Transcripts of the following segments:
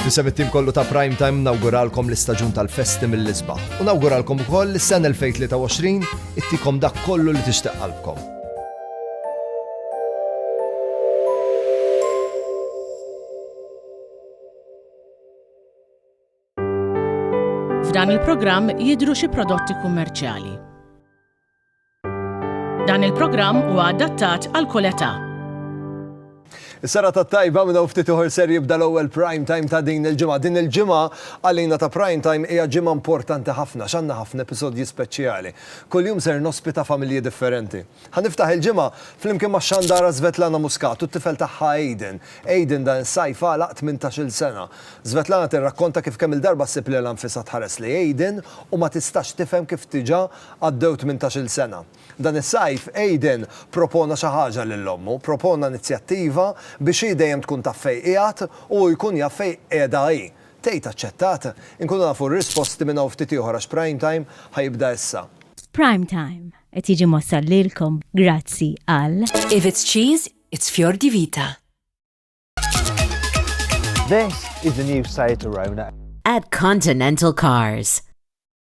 Nisem it-tim kollu ta' Prime Time nawguralkom l-istaġun tal-festi mill-isbaħ. U nawguralkom ukoll l-sen 2023 ittikom dak kollu li tixtieq qalbkom. F'dan il-programm jidru xi prodotti kummerċjali. Dan il-programm huwa adattat għal kull età. Is-sara ta' tajba minn hawn ftit uħor ser jibda l-ewwel prime time ta' din il-ġimgħa. Din il-ġimgħa għalina ta' prime time hija ġimgħa importanti ħafna x'għandna ħafna episodji speċjali. Kuljum ser nospita familji differenti. Ħa niftaħ il-ġimgħa flimkien max-xandara Svetlana Muscat u t-tifel tagħha Aiden. Aiden dan is-sajf għalaq tmintax-il sena. Svetlana tirrakkonta kif kemm-il darba ssib lilha nfisha tħares lejn Aiden u ma tistax tifhem kif diġà Għaddew tmintax-il sena. Dan is-sajf, Aidan propona xi ħaġa lil ommu. Propona inizjattiva biex hi dejjem tkun taf fejn qiegħed u hu jkun jaf fejn qiegħda hi. Tgħid aċċettat? Inkunu nafu r-risposti minn hawn ftit ieħor għax Prime Time ħa jibda issa. Prime Time qed jiġi mwassal lilkom grazzi għal. If it's cheese, it's fior di vita. This is the new Seat Arona. At Continental Cars.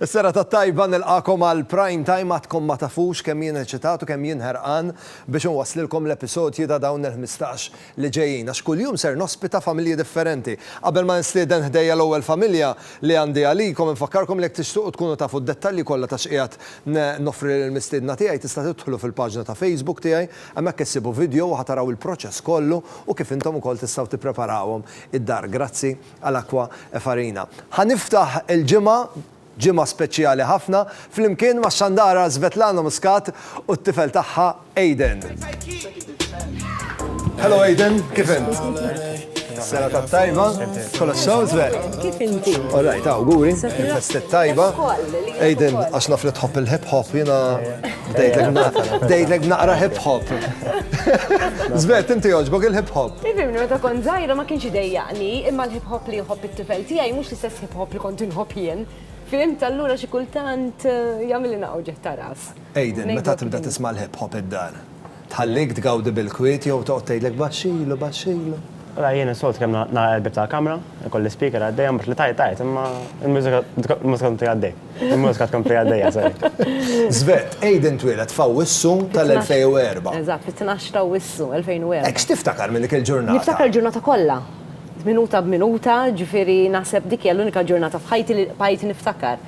Is-serata t-tajba nilqagħkom għal Prime Time għadkom ma tafux kemm jien eċitat u kemm jien ħerqan biex inwasslilkom l-episodji ta' dawn il-ħmistax li ġejjin għax kuljum ser nospita familji differenti. Qabel ma nistieden ħdejja l-ewwel familja li għandi għalikom infakkarkom li jekk tixtuqu tkunu tafu d-dettalji kollha ta' x'qiegħed noffri lill-mistiedna tiegħi tista' tidħlu fil-paġna ta' Facebook tiegħi hemmhekk issibu vidjow u ħa taraw il-proċess kollu u kif intom ukoll tistgħu tippreparawhom id-dar. Grazzi. għal Acqua e Farina. Ħa niftaħ il-ġimgħa, ġimgħa speċjali ħafna, flimkien max-xandara Svetlana Muscat u t-tifel tagħha Aiden. Hello Aiden, kif int? Sena ta' tajba, kolla xaw zver. Kif inti? Oraj, ta' guri, festet tajba. Aiden, għax naf li tħobb il-hip hop, jena bdejtlek naqra hip hop. Zver, inti joġbok il-hip hop. Ifimni, meta kon zaħira ma kienx idejja jogħġobni, imma l-hip hop li jħobb it-tifel tiegħi mhux l-istess hip hop li kont inħobb jien. Fhimt allura xi kultant eh, jagħmilli naqgħu ġeħ ta' ras. Aiden, meta tibda tisma' l-hip hop id-dar, tħallik tgawdi bil-kwiet jew toqgħod tgħidlek baxxilu, baxxilu? Mela jien is-soltu kemm nagħlaq il-bieb tal-kamra, ikolli speaker għaddej, imbagħad li tgħajjat tgħajjat, imma l-mużika tkun għaddej. Immur tkun pija dejja sejk. Zvet, Aiden twilet fa' wissu tal-2004. Eżat, fit-12 ta' wissu 2004. Ek xtiftakar minn dik il-ġurnata? Niftakar il-ġurnata kollha. Minuta b'minuta, ġifiri naħseb dik hija l-unika ġurnata f'ħajti li bqajt niftakar.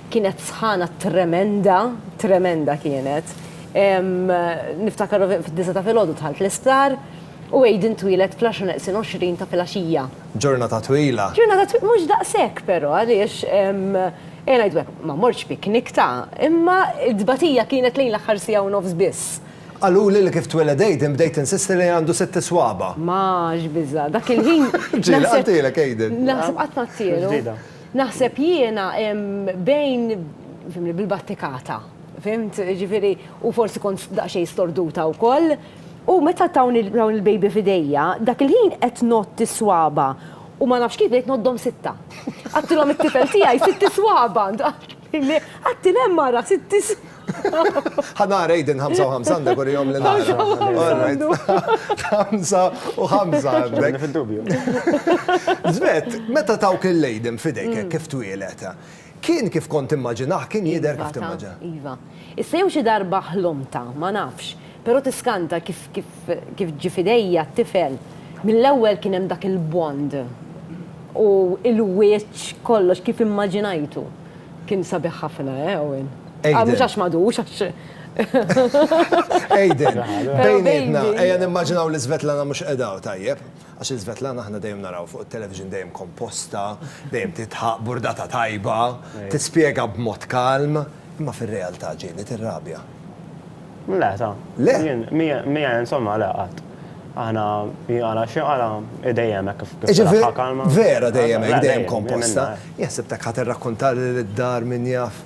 Kienet sħana tremenda, tremenda kienet. Niftakar fid-disa ta' filgħodu dħalt l-isptar u Aiden twilet fl-10 neqsin 20 ta' filgħaxija. Ġurnata twila. Ġurnata twila, mhux daqshekk però għaliex ejja ngħidu hekk, ma mortx piknik ta', imma t-tbatija kienet lejn l-aħħar siegħa u nofs biss. Qaluli li kif tweled Aiden bdejt insisti li għandu sitt iswaba'. Ma x'biża', dak il-ħin naħseb. Ġieli qaltilek Aiden. Naħseb qatt ngħattielu. Naħseb jiena bejn, fhimni, bil-battikata, fhimt, jiġifieri u forsi kont daqsxejn storduta wkoll. U meta tawni dawn il-baby f'idejja, dak il-ħin qed ngħodd is-swaba' u ma nafx kif bdejt ngħoddhom sitta. Għadtilhom it-tifel tiegħi sitt iswaba'! Għadtil hemm ara sitt iswaba'! Ħa nara Aiden ħamsa u ħamsa għandek urihom li nara. Ħamsa u ħamsa għandu. Ħamsa u ħamsa għandek. Għadni fid-dubju. Żbett, meta tawk lil Aiden f'idejk hekk kif twieled, Kien kif kont timmaġinah, kien jidher kif timmaġinah. Iva ta, iva. Issa jew xi darba ħlomtha, ma nafx, però tiskanta kif kif kif ġie f'idejja t-tifel, mill-ewwel kien hemm dak il-bond u l-wiċċ kollox kif immaġinajtu. Kien sabiħ ħafna, eh, Owen. Aiden. Mhux għax m'għadux, għax. Aiden, bejnietna, ejja nimmaġinaw li Svetlana mhux qiegħda hawn, tajjeb? Għax lil Svetlana aħna dejjem naraw fuq it-television dejjem komposta, dejjem tidħaq, burdata tajba, tispjega b'mod kalm, imma fir-realtà ġieli tirrabja. Le ta'. Le? Jien, miegħi insomma le qatt. Aħna, hi qalha xi qalha, hi dejjem hekk kif taraha kalma. Jiġifieri vera dejjem hekk, dejjem komposta? Jien ħsibtek ħa tirrakkunta li lid-dar min jaf.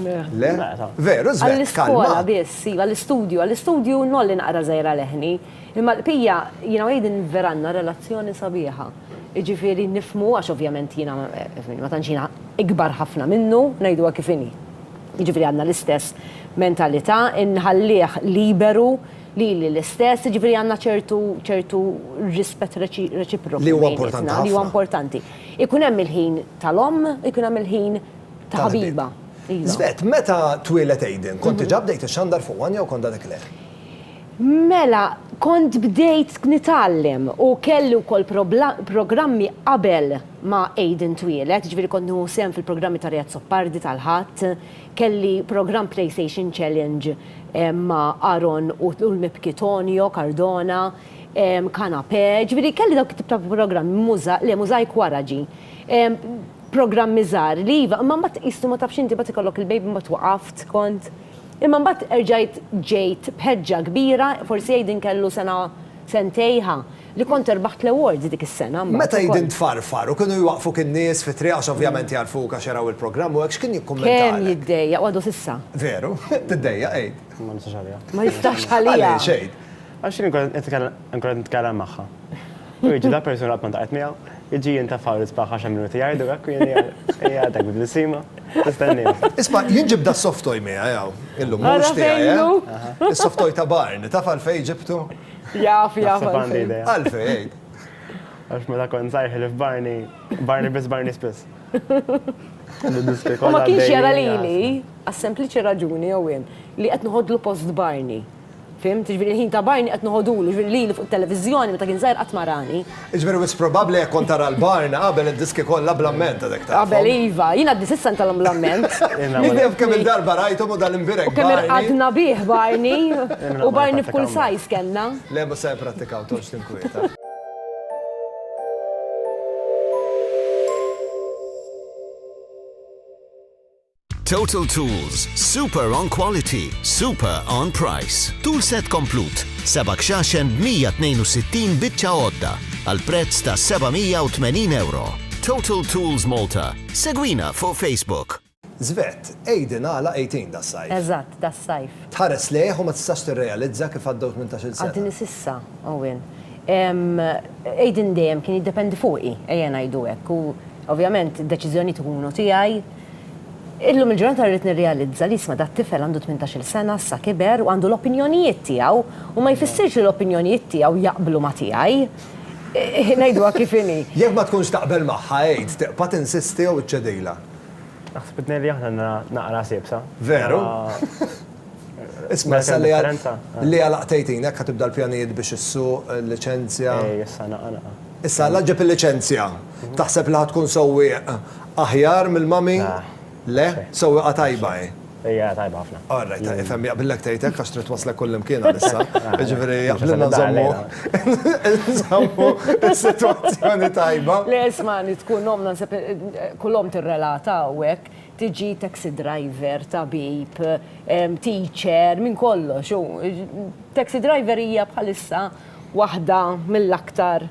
Le. Le ta'. Veru Svet, kalma. Għall-iskola biss, iva, għall-istudju, għall-istudju ngħolli naqra żgħira leħni. Imma l-bqija, jiena u Aidan vera għandna relazzjoni sabiħa. Jiġifieri nifhmu, għax ovvjament jiena ma tantx jiena ikbar ħafna minnu, ngħiduha kif inhi. Jiġifieri għandna l-istess mentalità, inħallih liberu, lili l-istess, jiġifieri għandna ċertu ċertu rispett reċiproku bejnietna. Li huwa importanti ħafna. Li huwa importanti. Ikun hemm il-ħin tal-omm, ikun hemm il-ħin ta' ħabiba. Iva. Żbett, meta twieled Aidan, kont diġà bdejt ixxandar fuq one jew kont għadek le? Mela, kont bdejt nitgħallem u kelli wkoll programmi qabel ma Aiden twieled, jiġifieri kont nieħu sehem fil-programmi ta' Ry Azzopardi tal-Ħadd, kelli programm PlayStation Challenge ma' Aaron u l-mibki Tonio Cardona, Canapè, jiġifieri kelli dawk it-tip ta' programmi, le Mosaic wara ġie. Programmi żgħar li iva, imma mbagħad qisu ma tafx inti mbagħad ikollok il-baby mbagħad waqaft kont. Imma mbagħad erġajt ġejt b'ħeġġa kbira, forsi Aiden kellu sena sentejha, li kont irbaħt l-awards dik is-sena mbagħad ukoll. Meta Aiden tfarfar u kienu jwaqqfuk in-nies fit-triq għax ovvjament jagħrfuk għax jaraw il-programm u hekk, x'kien jikkummentalek? Kemm jiddejjaq, u għadu s'issa. Veru? Tiddejjaq Aid? Ma nistax għaliha. Ma jistax għaliha. Għaliex Aid? Għax jien inkun qed nitkellem magħha. U jiġi dak persuna qatt ma ntaqgħet miegħu. Iġi jintafaw l-isbaħ għax hemm minuti jgħidu hekk u jien qiegħda bil-blisima nistennihom. Isma' jien ġibt das-soft toy miegħi hawn illum, mhux tiegħi eh? Is-soft toy ta' Barn, taf għalfejn ġibtu? Jaf, jaf għalfejn. Għalfejn għid. Għax meta kont żgħir ħilif Barni, Barni biss Barni spiss. U ma kienx jara lili għas-sempliċi raġuni jew li qed nħoddlu post Barni. Fhimt? Jiġifieri l-ħin ta' Barney qed noħodulu, jiġifieri lili fuq it-televiżjoni meta kien żgħir qatt ma rani. Jiġifieri wisq probabbli jekk kont tara 'l Barney qabel id-diski kollha bl-amment għadek tafhom. Qabel iva, jien għadni s'issa ntalhom bl-amment. Jien naf kemm il-darba rajthom u dan imbierek Barney. U kemm irqadna bih Barney. U Barney f'kull size kellna. Le mhux se nipprattikaw, toqgħodx tinkwieta. Total Tools, super on quality, super on price. Tool set komplut, seba' kxaxen b'162 biċċa għodda għal prezz ta' 780 euro. Total Tools Malta. Segwina fuq Facebook. Żvett, Aiden għala 18 das-sajf. Eżatt, das-sajf. Tħares lejh u ma tistax tirrealizza kif għaddew tmintax-il sena. Għadni s'issa, Owen. Aiden dejjem kien jiddependi fuqi, ejja ngħidu hekk, u ovvjament id-deċiżjonijiet ikunu tiegħi, Illum il-ġurnata rrid nirrealizza li jisma' dat-tifel għandu tmintax-il sena, issa kiber u għandu l-opinjonijiet tiegħu u ma jfissirx li l-opinjonijiet tiegħu jaqblu ma' tiegħi. Ngħiduha kif inhi. Jekk ma tkunx taqbel magħha, għid, tiqpa' tinsisti jew iċċedilha. Naħseb li tnejn li aħna għandna naqra ħsieb, sa? Veru? Isma' issa li li għala qtejtin hekk ħa tibda l-pjanijiet biex issuq, il-liċenzja. Ej issa naqa' naqa'. Issa għala ġġib il-liċenzja? Taħseb li ħa tkun sewwieq aħjar mill-mummy? Le? Sewwieqa tajba hi? Hija tajba ħafna. All right, ifhem jaqblilek tgħid hekk għax trid twasslek kullimkien għalissa. Jiġifieri jaqblilna nżommu nżommu s-sitwazzjoni tajba. Le isma' li tkun omm naħseb kull omm tirrelata hawnhekk. Tiġi taxi driver, tabib, teacher, minn kollox. Taxi driver hija bħalissa waħda mill-aktar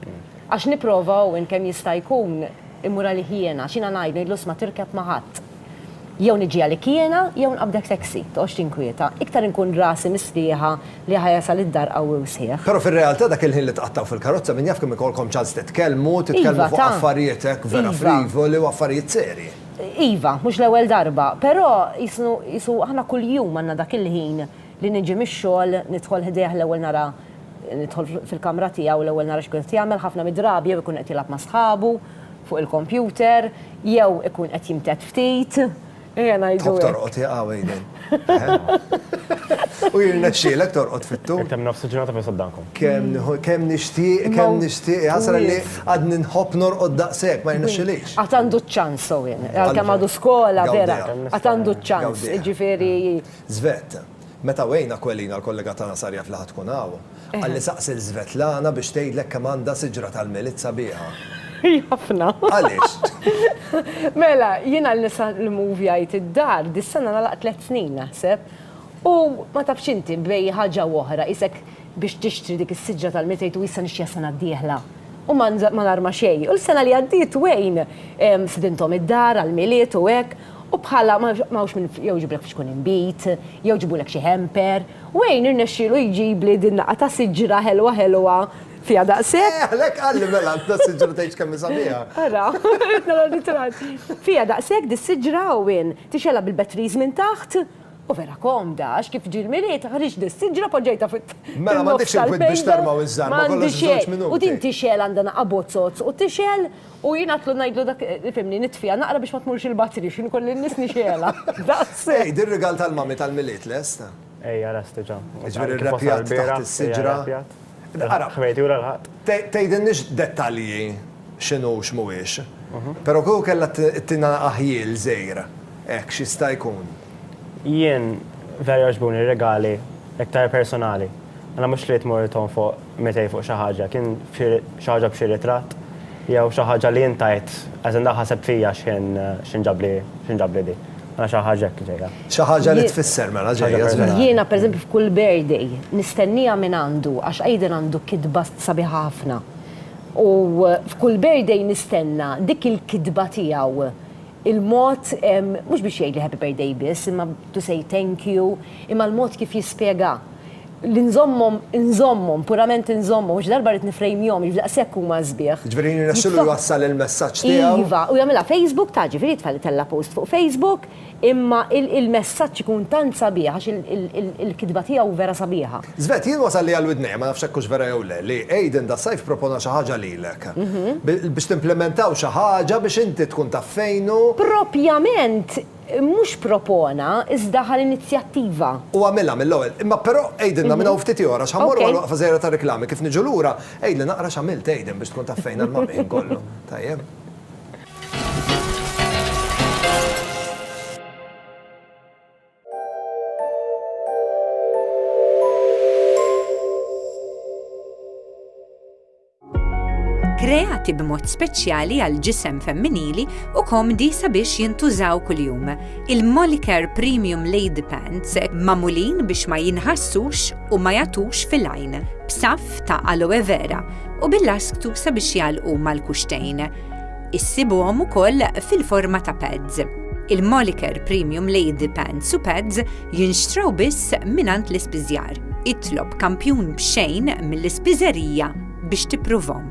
għax nipprova Owen kemm jista' jkun immur għalih jiena, x'jiena ngħid, ngħidlu isma' tirkeb ma' ħadd. Jew niġi għalik jiena jew nqabbdek taxi, toqgħodx tinkwieta. Iktar inkun rasi mistrieħa li ħa jasal id-dar qawwi u sħiħ. Però fir-realtà dak il-ħin li tqattgħu fil-karozza min jaf kemm ikollkom ċans titkellmu, titkellmu fuq affarijiet hekk vera frivoli u affarijiet serji. Iva, mhux l-ewwel darba, però qisu aħna kuljum għandna dak il-ħin li niġi mix-xogħol, nidħol ħdejh l-ewwel nara nidħol fil-kamra tiegħu l-ewwel nara x'kun qed jagħmel, ħafna mid-drabi jew ikun qed jilgħab ma' sħabu fuq il-kompjuter, jew ikun qed jimtedd ftit, ejja ngħidu hekk. Tħobb torqod hi, qawwi jien. U jirnexxielek torqod fit-tul. Qed hemm nofs ġurnata biss quddankom. Kemm nixtieq, kemm nixtieq, jasra li għadni nħobb norqod daqshekk, ma jirnexxilix. Għad għandu ċ-ċans Owen, għalkemm għadu skola vera, għad għandu ċ-ċans, jiġifieri. Żvett, meta Wayne Aquilina l-kollega tagħna sar jaf li ħa tkun hawn, Qalli saqsi lil Svetlana biex tgħidlek kemm għandha siġra tal-Milied sabiħa. Hi ħafna. Għaliex? Mela, jien għal nisa li mmovjajt id-dar, dis-sena nagħlaq tliet snin naħseb, u ma tafx inti, bej ħaġa u oħra, qisek biex tixtri dik is-siġra tal-Milied tgħid u issa nixtriha s-sena d-dieħla. U ma nar ma xejn. U l-sena li għaddiet Wayne stidinthom id-dar għall-Milied u hekk, u bħala ma hawnx min jew iġiblek f'xkun inbid, jew ġibulek xi hamper, Wayne irnexxielu jġibli din naqa' ta' siġra ħelwa ħelwa fiha daqshekk. Eh, għalhekk qalli mela għandha s-siġra tgħidx kemm hi sabiħa. Ara, qed nara ritratt. Fiha daqshekk dis-siġra u in, tixgħelha bil-batteries minn taħt. U vera komda, għax kif ġie l-Milied, ħriġt dis-siġra poġġejtha fit, fin-nofs tal-mejda. Mela m'għandekx il-kwiet biex tarma' wiż-żarma kollox f'żewġ minuti. M'għandi xejn. U din tixgħel għandha naqa' bozzozz u tixgħel. U jien għadtlu ngħidlu dak, fimni, nitfiha naqra biex ma tmurx il-batri, x'inhu kolli n-nies nixgħelha. Daqs. Ej, din rigal tal-Mummy tal-Milied lest? Ejja lest diġà. Jiġifieri rrepjat taħt is-siġra. Ara. Ħmejt jura l-Ħadd. Tgħidilniex dettalji x'inhu u x'mhuwiex, però kieku kellha ttina aħjiel żgħir hekk x'jista' jkun? Jien vera jogħġbuni r-regali iktar personali. Għana mhux trid tmur ton fuq mitej fuq xi ħaġa, kien f'xi xi ħaġa b'xi ritratt jew xi ħaġa li int għidt as in dak ħaseb fija x'kien x'in ġabli x'in ġabli di. Għana xi ħaġa hekk ġejja. Xi ħaġa li tfisser mela ġejja żvelat. Jiena pereżempju f'kull birthday nistennieha minn għandu għax Aiden għandu kitba sabiħa ħafna u f'kull birthday nistenna dik il-kitba tiegħu. il-mod, mhux biex jgħidli happy birthday biss, imma to say thank you, imma l-mod kif jispjega. Li nżommhom, inżommhom, purament inżommhom, għax darba rrid nifrejmjhom, jiġifieri daqshekk huma sbieħ. Jiġifieri jirnexxilu jwassal il-messaġġ tiegħu. Iva, u jagħmilha Facebook, ta' ġifieri jitfa' jtella' post fuq Facebook, imma il-messaġġ ikun tant sabiħ għax il-kitba tiegħu vera sabiħa. Svet, jien wasal li għal widnejja, ma nafx hekk hux vera jew le, li Aiden das-sajf propona xi ħaġa lilek. Biex timplimentaw xi ħaġa biex inti tkun taf fejn hu. Propjament mhux propona, iżda ħa l-inizjattiva. U għamilha mill-ewwel. Imma però għidilna minn hawn ftit ieħor għax ħa mmorru għal waqfa żgħira tar-riklami, kif niġu lura, għidli naqra x'għamilt Aiden biex tkun taf fejn għall-Malti ħin kollu. Tajjeb. kreati b'mod speċjali għal ġisem femminili u komdi sabiex jintużaw kuljum. Il-Molicare Premium Lady Pants mamulin biex ma jinħassux u ma jatux fil-għajn, b'saf ta' aloe vera u bil-lasktu sabiex jalqu mal-kuxtejn. Issibuhom ukoll fil-forma ta' pads. Il-Molicare Premium Lady Pants u Pads jinxtraw biss mingħand l-ispiżjar. Itlob kampjun b'xejn mill-ispiżerija biex tippruvhom.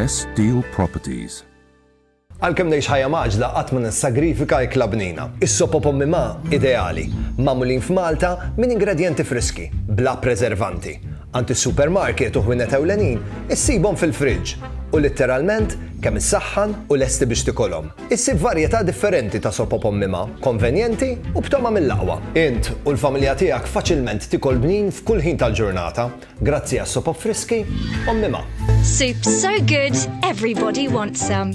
Best Deal Properties Għalkemm ngħix ħajja maġla qatt ma nissagrifika ikla bnina. Is-sopo pommi ma ideali, magħmulin f'Malta minn ingredjenti friski, bla preservanti. Għand is-supermarket u ħwienet ewlenin issibhom fil-friġġ u litteralment kemm issaħħan u lesti biex tikolhom. Issib varjetà differenti ta' sop op ommima, konvenjenti u b'togħma mill-aqwa. Int u l-familja tiegħek faċilment tikol bnin f'kull ħin tal-ġurnata grazzi għas-sop op friski ommima. Soup so good, everybody wants some.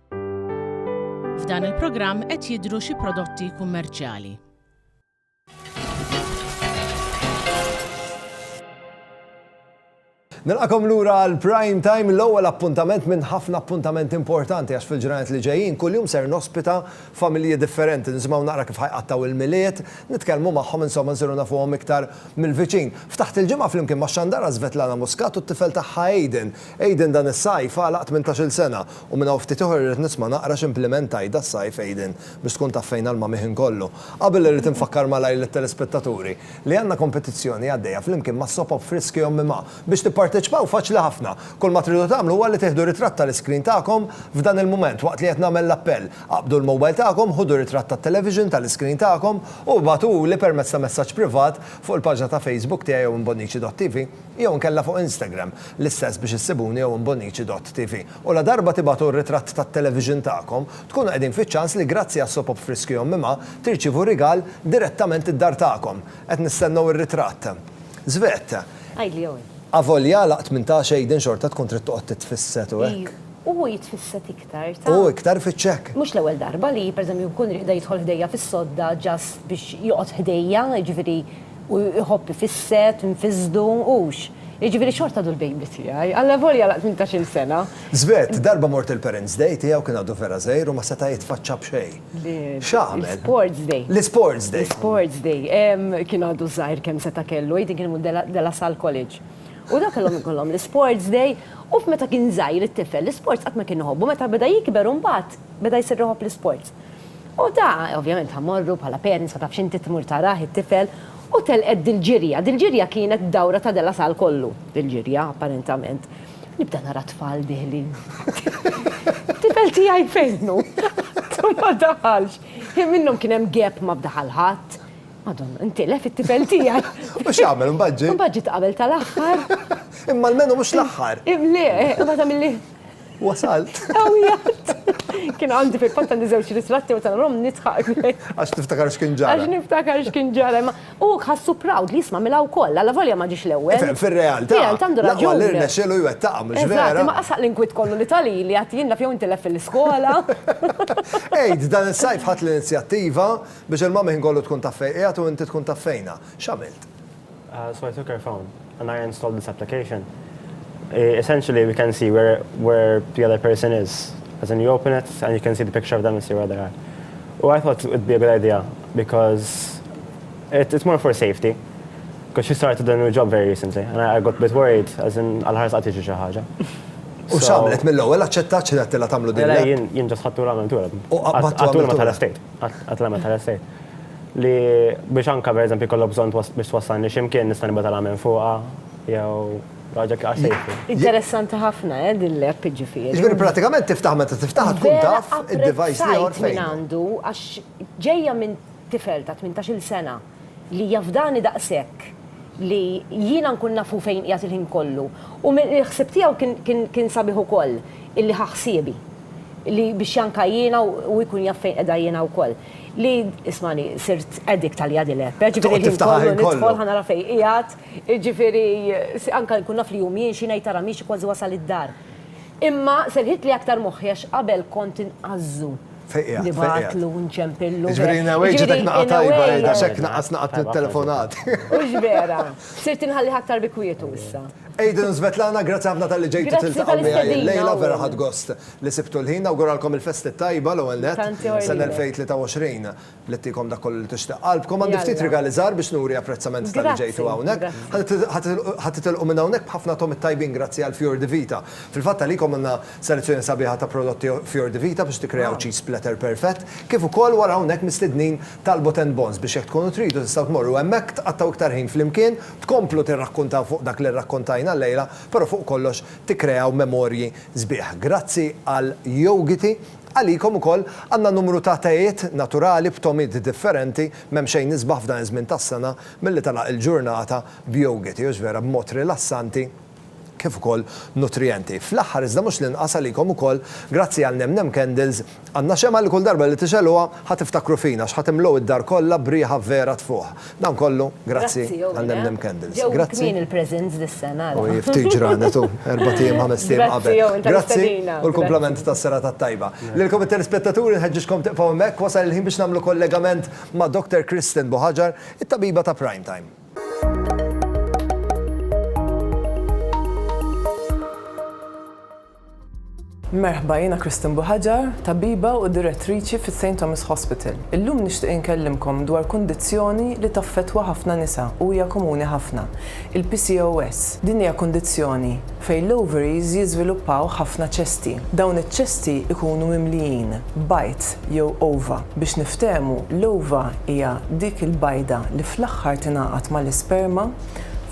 F'dan il-programm qed jidhru xi prodotti kummerċjali. Nilqakom lura għal prime time l-ewwel appuntament minn ħafna appuntament importanti għax fil-ġranet li ġejjin kuljum ser nospita familji differenti nisimgħu naqra kif ħajqattaw il-miliet, nitkellmu magħhom insomma nsiru nafuhom iktar mill-viċin. Ftaħt il-ġimgħa flimkien ma' Xandara Svetlana Muscat u t-tifel tagħha Aiden Aiden dan is-sajf għalaq tmintax-il sena u minn hawn ftit ieħor irrid nisma' naqra x'impliment għidt das-sajf Aiden biex tkun taf fejn għall-mamih inkollu. Qabel irrid infakkar malajr lit-telespettaturi li għandna kompetizzjoni għaddejja flimkien ma' Soap Up Friski Ommi Ma. Biex tipparteċpaw faċli ħafna. Kull ma tridu tagħmlu huwa li tieħdu ritratt tal-iscreen tagħkom f'dan il-mument waqt li qed nagħmel l-appell. Aqbdu l-mobile tagħkom, ħudu ritratt tat-television tal-iscreen tagħkom u ibagħtuhuli permezz ta' messaġġ privat fuq il-paġna ta' Facebook tiegħi jew imbonnici.tv. Jew inkella fuq Instagram, l-istess biex issibuni jew Imbonnici dott TV. U ladarba tibagħtu r-ritratt tat-television tagħkom, tkunu qegħdin fiċ-ċans li grazzi għas-Soap Op Friski Ommi Ma tirċievu rigal direttament id-dar tagħkom. Qed nistennew ir-ritratt. Svett. Għidli Eoin. Avolja għala tmintax Aiden xorta tkun trid toqgħod titfisset u hekk. Iju, hu jitfisset iktar, taf. U iktar fiċ-ċekk. Mhux l-ewwel darba li, pereżempju, nkun riqda jidħol ħdejja fis-sodda just biex joqgħod ħdejja, jiġifieri, U jħobb ifisset, nfissdu, hux? Jiġifieri xorta għadu l-baby tiegħi, allavolja la tmintax-il sena. Svet, darba mort il-parents' day tiegħu kien għadu vera żgħir u ma seta' jitfaċċa b'xejn. X'għamel? L-isports day. L-isports day. L-isports day. Kien għadu żgħir kemm seta' kellu, jidhri kien imur De La Salle College. U dawn kellhom ikollhom l-isports day u f'meta kien żgħir it-tifel l-isports qatt ma kien iħobbu, meta beda jikber imbagħad beda jsir iħobb l-isports. U ta', ovvjament ta' morru bħala parents ma tafx inti tmur tarah it-tifel, u telqet dil-ġirja. Dil-ġirja kienet dawra ta' De La Salle kollu, dil-ġirja apparentament. Nibda nara tfal diħlin. Tifel tiegħi fejn hu? Għadu ma daħalx. Hi minnhom kien hemm gap ma fdaħal ħadd. Madonna, intilef it-tifel tiegħi. U x'għamel imbagħad ġie? Imbagħad ġiet qabel tal-aħħar. Imma almenu mhux l-aħħar. Le, imbagħad għamilli. Wasalt. Għawijat. Kien għandi fil-fatta li zewċ ritratti u tal-rom nitħaq. Għax niftakar xkien ġara. Għax niftakar xkien ġara. U ħassu proud li jisma milaw koll, għalla volja ma ġiex l-ewel. Fil-realtà. Fil-realtà għandu raġun. Għallir nexxilu jwettaqa, mux vera. Ma qasaq l-inkwit kollu li tali li għatijin la fjaw intilef fil-skola. Ejd, dan il-sajf ħat l-inizjattiva biex il-mami ħin kollu tkun taffejqijat u inti tkun taffejna. Xamilt? So I took her phone and I installed this application. Essentially we can see where where the other person is. As in you open it and you can see the picture of them and see where they are. U I thought it'd be a good idea because it, it's more for safety. Because she started a new job very recently and I, I got a bit worried as in għal-ħarsa għatiġi xi ħaġa. U xamlet mill-ewwel aċċettat xi għattila tagħmlu din. Jien ġas ħattu l-għamil tura. U għattu l-għamil tal-estate. Għattu l-għamil tal-estate. li biex anke pereżempju jkollok bżonn biex twassalni xi mkien nista' nibgħat alarm minn fuqha jew raġel għax se jifri. Interessanti ħafna eh din l-app jiġifieri. Jiġifieri prattikament tiftaħ meta tiftaħha tkun taf id-device li ieħor fejn. Vera apprezzajt min għandu għax ġejja minn tifel ta' tmintax-il sena li jafdani daqshekk li jiena nkun naf hu fejn qiegħed il-ħin kollu. U mill-ħsieb tiegħu kien sabiħ ukoll illi ħa ħsiebi li biex anke jiena hu jkun jaf fejn qiegħda jiena wkoll. li ismani sirt addict għalija din l-app. Eh, ġifieri Toqgħod l-ħin tiftaħha kollu ħin kollu. nidħol ħa nara fejn qiegħed, ġifieri s- anke nkun naf li hu miexi ngħid tara miexi kważi wasal id-dar. Imma serħitli aktar moħħi għax qabel kont inqażżu. Fejn qiegħed, fejn qiegħed. Nibgħatlu, nċempillu. Ġifieri in a way ġietek Ġifieri, naqgħa in a tajba way, għidha x'hekk naqas naqgħa Tajba, t-telefonat. Mhux vera. Sirt inħallih aktar bi kwietu issa. Aiden u Svetlana, grazzi ħafna tal-li ġejtu Grazzi tiltaqgħu miegħi tal-istedina, illejla vera Owen. ħadd gost. li sibtu l-ħin, nawguralkom il-festi t-tajba l-ewwel nett, sena 2023 li ttikom dak kollu li tixtieq qalbkom, għandi ftit rigali żgħar biex nuri apprezzament talli ġejtu hawnhekk, ħa titilqu minn hawnhekk b'ħafna togħmiet tajbin grazzi għal Fior di Vita. Fil-fatt għalikom għandna selezzjoni sabiħa ta' prodotti Fior di Vita biex tikkreaw cheese splatter perfett, kif ukoll wara hawnhekk mistednin Talbot and Bonds biex jekk tkunu tridu tistgħu tmorru hemmhekk tqattgħu iktar ħin flimkien, tkomplu tirrakkuntaw fuq dak li rrakkuntajna llejla, però fuq kollox tikkreaw memorji sbieħ. Grazzi għal Yogiti, għalikom ukoll għandna numru ta' tejiet naturali b'tomid differenti, m'hemm xejn isbaħ f'dan iż-żmien tas-sena milli tagħlaq il-ġurnata b'Yogiti, hux vera b'mod rilassanti kif ukoll nutrijenti. Fl-aħħar iżda mhux l-inqas għalikom ukoll, grazzi għal Nem Nem Candles, Għandna xemgħa li kull darba li tixegħluha ħa tiftakru fina għax ħa timlgħu id-dar kollha b'riħa vera tfuħ. Dan kollu grazzi għall-MNM Candles. Grazzi. U hi ftit ġranet u erbat ijiem ħamest ijiem qabel. Grazzi u l-kumplament tas-serata t-tajba. Lilkom it-telespettaturi nħeġġiġkom tibqgħu hemmhekk wasal il-ħin biex nagħmlu kollegament ma' Doctor Kristen Buhaġar, it-tabiba ta' Prime Time. Merħba, jiena Christine Buħaġar, tabiba u direttriċi fis-St Thomas Hospital. Illum nixtieq inkellimkom dwar kundizzjoni li taffettwa ħafna nisa u hija komuni ħafna, il-PCOS. Din hija kundizzjoni fejn l-ovaries jiżviluppaw ħafna ċesti. Dawn iċ-ċesti jkunu mimlijin bajd jew ova. Biex niftehmu, l-ova hija dik il-bajda li fl-aħħar tingħaqad mal-isperma.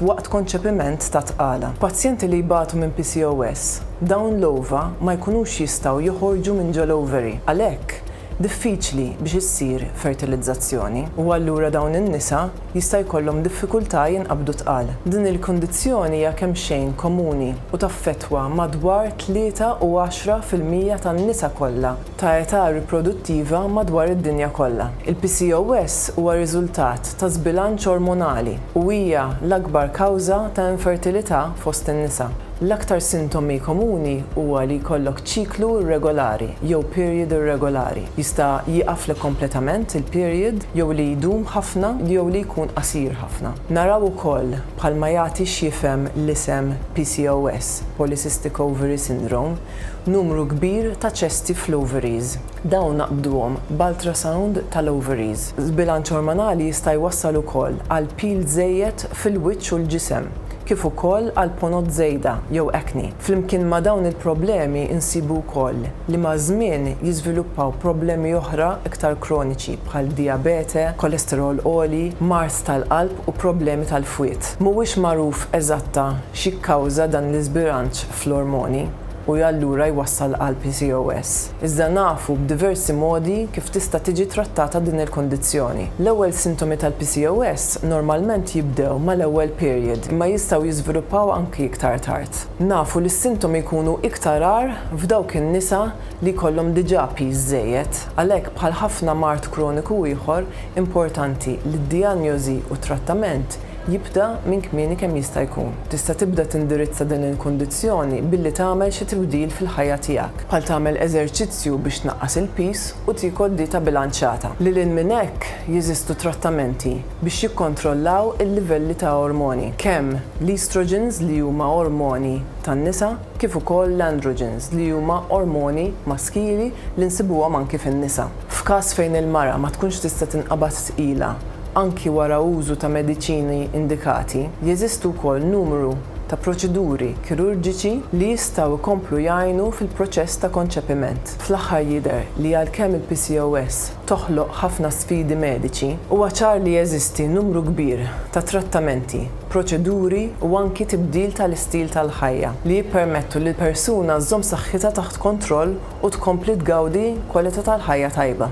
waqt konċepiment ta' tqala. Pazjenti li jbatu minn PCOS, dawn l-ova ma jkunux jistgħu joħorġu minn ġol-ovary, għalhekk diffiċli biex issir fertilizzazzjoni, u allura dawn in-nisa jista' jkollhom diffikultà jinqabdu tqal. Din il-kundizzjoni hija kemxejn komuni u taffettwa madwar tlieta u għaxra fil-mija tan-nisa kollha. ta' età riproduttiva madwar id-dinja kollha. Il-PCOS huwa riżultat ta' żbilanċ ormonali u hija l-akbar kawża ta' infertilità fost in-nisa. L-aktar sintomi komuni huwa li jkollok ċiklu irregolari jew period irregolari. Jista' jieqaflek kompletament il-period jew li jdum ħafna jew li jkun qasir ħafna. Naraw ukoll, bħalma jagħti x'jifhem l-isem PCOS, Polycystic Ovary Syndrome, Numru kbir ta' ċesti fl-ovaries. Dawn naqbduhom b'ultrasound tal-ovaries. Żbilanċ ormonali jista' jwassal ukoll għal pil żejjed fil-wiċċ u l-ġisem, kif ukoll għal ponot żejda jew acne. Flimkien ma' dawn il-problemi insibu wkoll li maż-żmien jiżviluppaw problemi oħra iktar kroniċi bħal dijabete, kolesterol għoli, mard tal-qalb u problemi tal-fwied. Mhuwiex magħruf eżatta x'jikkawża dan l-iżbilanċ fl-ormoni u allura jwassal għal PCOS. Iżda nafu b'diversi modi kif tista' tiġi trattata din il-kundizzjoni. L-ewwel sintomi tal-PCOS normalment jibdew mal-ewwel period imma jistgħu jiżviluppaw anki iktar tard. Nafu li s-sintomi jkunu iktar agħar f'dawk in-nisa li jkollhom diġà piż żejjed. Għalhekk bħal ħafna mard kroniku ieħor, importanti li d-dijanjosi u t-trattament jibda minn kmieni kemm jista' jkun. Tista' tibda tindirizza din il-kundizzjoni billi tagħmel xi tibdil fil-ħajja tiegħek, bħal tagħmel eżerċizzju biex tnaqqas il-piż u tiekol dieta bilanċjata. Lil hinn minn hekk, jeżistu trattamenti biex jikkontrollaw il-livelli ta' ormoni, kemm l-estrogens li huma ormoni tan-nisa, kif ukoll l-androgens li huma ormoni maskili li nsibuhom anki fin-nisa. F'każ fejn il-mara ma tkunx tista' tinqabad tqila anki wara użu ta' mediċini indikati, jeżistu wkoll numru ta' proċeduri kirurġiċi li jistgħu jkomplu jgħinu fil-proċess ta' konċepiment. Fl-aħħar jidher li għalkemm il-PCOS toħloq ħafna sfidi mediċi, huwa ċar li jeżisti numru kbir ta' trattamenti proċeduri u anki tibdil tal-istil tal-ħajja li jippermettu li l-persuna żżomm saħħitha taħt kontroll u tkompli tgawdi kwalità tal-ħajja tajba.